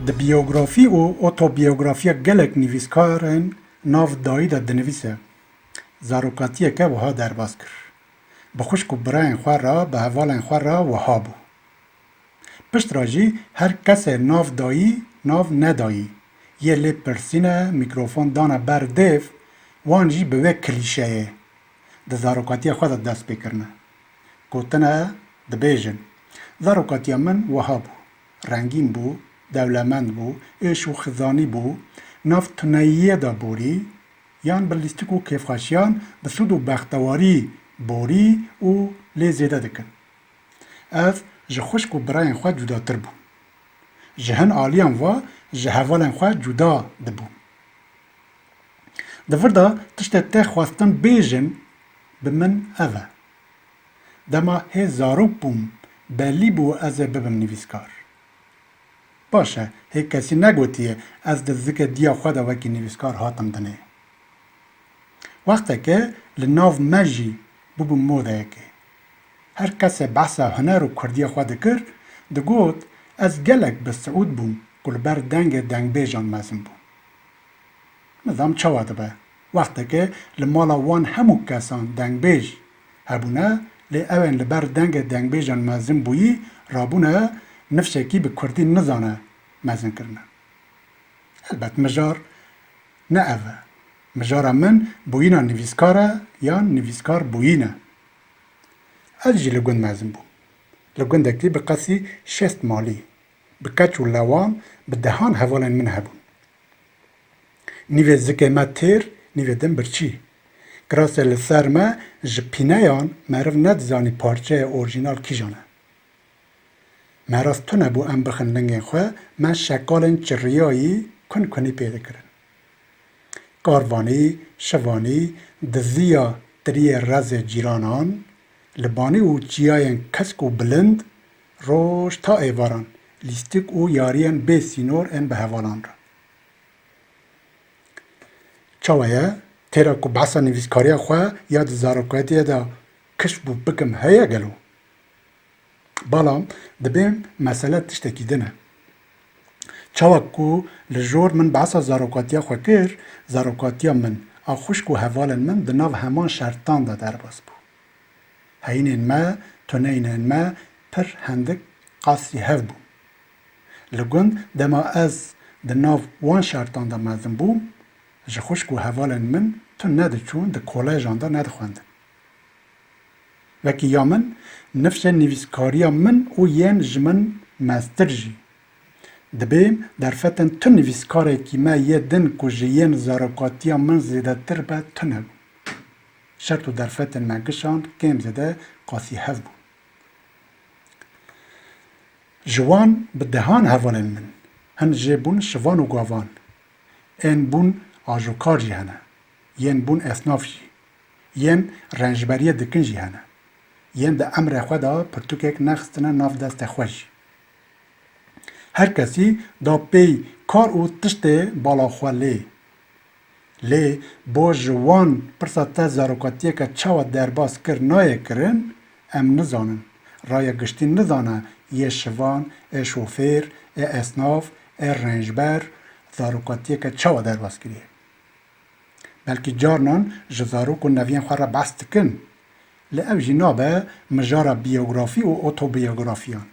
Di biyografî û otobiyografiya gelek nivîskarên nav dayî de dinivîse, zarokatiyeke wiha derbas kir, Bi xwişk û birayên xwe re, bi hevalên xwe re wiha bû, Pişt re jî her kesê nav dayî nav nedayî yê lê pirsîne, mîkrofon dane ber dêv, wan jî bi vê klîşeyê di zarokatiyê xwe de dest pê kirine. Gotine dibêjin, Zarokatiya min wiha bû, rengîn bû, dewlemend bû, êş û xizanî bû, nav tuneyiyê de borî, yan bi lîstik û kêfxweşiyan, bi sûd û bextewarî borî û lê zêde dikin. Ev ji xwişk û birayên xwe cudatir bû. Ji hin aliyan ve ji hevalên xwe cuda dibû. Di vir de tiştê tê xwestin bêjim bi min ev e. Dema hê zarok bûm belî bû ez ê bibim nivîskar. Baş e hê kesî negotiye ez di zikê diya xwe de wekî nivîskar hatim dinê. Wextekê li nav me jî bûbû modeyekê. Her kesê behsa huner û kurdiyê xwe dikir, digot, Ez gelek bi siûd bûm ku li ber dengê dengbêjan mezin bûm. Nizam çawa dibe, wextekê li mala wan hemû kesan dengbêj hebûne lê ew ên li ber dengê dengbêjan mezin bûyî rabûne nifşekî bi kurdî nizane mezin kirine. Helbet mijar ne ev e. Mijara min bûyîna nivîskar e yan nivîskar bûyîn e. Ez jî li gund mezin bûm. Li gundekî bi qasî şest malî, bi keç û lewan bi dehan hevalên min hebûn. Nîvê zikê me têr, nîvê din birçî. Kirasê li ser me ji pîneyan meriv nedizanî parçeyê orjînal kîjan e. Meras tune bû em bixin lingên xwe, me şekalên çirriyayî kun kunî pê dikirin. Karvanî, şivanî, diziya tiriyê rezê cîranan, li banî û çiyayên kesk û bilind, roj ta êvaran, lîstik û yariyên bê sînor ên bi hevalan re. Çawa ye? Têra ku behsa nivîskariya xwe ya di zarokatiyê de kişt bû bikim heye gelo? Balam dibê mesele tiştekî din e. Çawa ku li jor min behsa zarokatiya xwe kir, zarokatiya min a xwişk û hevalên min di nav heman şertan de derbas bû. Heyînên me, tuneyînên me pir hindik qasî hev bûn. Li gund dema ez di nav wan şertan de mezin bûm, ji xwişk û hevalên min tun nediçûn, di kolejan de nedixwendin. Wekî ya min, nifşên nivîskariya min û yên ji min meztir jî. Dibê derfetên tu nivîskarekî me yê din ku ji yên zarokatiya min zêdetir be tune bû. Şert û derfetên me gişand kêm zêde qasî hev bûn. Ji wan bi dehan hevalên min, hin jê bûn şivan û gavan, ên bûn ajokar jî hene, yên bûn esnaf jî, Yên renjberiyê dikin jî hene. Yên di emrê xwe de pirtûkek nexistine nav destê xwe jî. Her kesî da pêy kar û tiştê bala xwe lê. Lê bo ji wan pirsa te zarokatiyeke çawa derbas kir nayê kirin, em nizanin. Raya giştî nizane yê şivan, ê şofêr, ê esnaf, ê renjber zarokatiyeke çawa derbas kiriye. Belkî carinan ji zarok û neviyên xwe re behs dikin, lê ev jî nabe mijara biyografî û otobiyografîyan.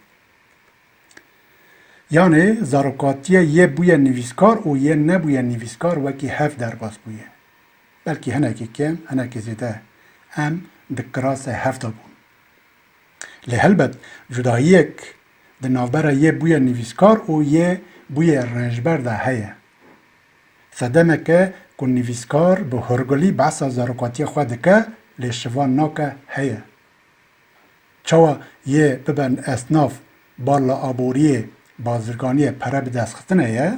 Yanê zarokatiyê yê bûye nivîskar û yê nebûye nivîskar wekî hev derbas bûye. Belkî hinekî kêm, hinekî zêde em di kirasê hev de bûn. Lê helbet cudayiyek di navbera yê bûye nivîskar û yê bûye rênjber de heye. Sedemeke ku nivîskar bi hurgulî behsa zarokatiyê xwe dike lê şivan nake heye. Çawa yê bibe esnaf bal li aboriyê, bazirganiyê pere bidestxistinê ye,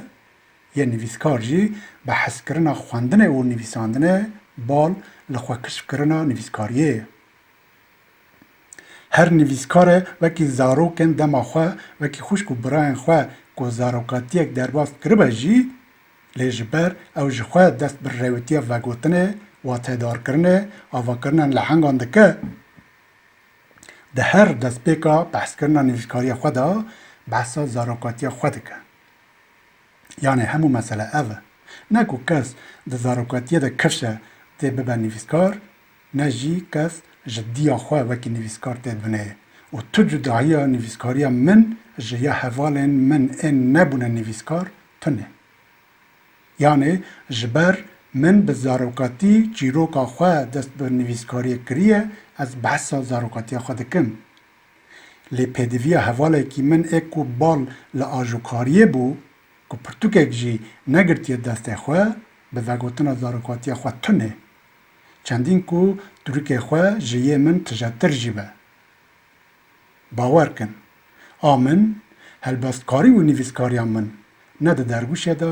yê nivîskar jî bi hezkirina xwendinê û nivîsandinê bal li xwe kişfkirina nivîskariyê ye. Her nivîskare wekî zarokên dema xwe, wekî xwişk û birayên xwe ku zarokatiyek derbas kiribe jî, lê ji ber ew ji xwe dest bi rewîtiya vegotinê, watedarkirinê, avakirinên lehengan dike, di her destpêka behskirina nivîskariya xwe de behsa zarokatiya xwe dike. Yanê hemû mesele ev e. Ne ku kes di zarokatiyê de kifşe tê bibe nivîskar, Ne jî kes ji diya xwe wekî nivîskar tê binêre û tu cudahiya nivîskariya min ji ya hevalên min ên nebûne nivîskar tune. Yanê ji ber min bi zarokatî çîroka xwe dest bi nivîskariyê kiriye, ez behsa zarokatiya xwe dikim. Lê pêdiviya hevalekî min ê ku bal li ajokariyê bû, ku pirtûkek jî negirtiye destê xwe, bi vegotina zarokatiya xwe tune. Çendîn ku turikê xwe ji yê min tijetir jî be. Bawer kin, a min, helbestkarî û nivîskariya min ne di derwişê de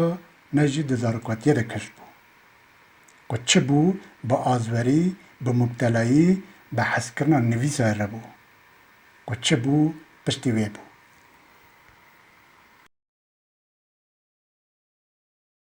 ne jî di zarokatiyê de kesk bû. Ku çi bû bi azwerî, bi mubtelayî, bi hezkirina nivîsayê re bû. Ku çi bû piştî wê bû.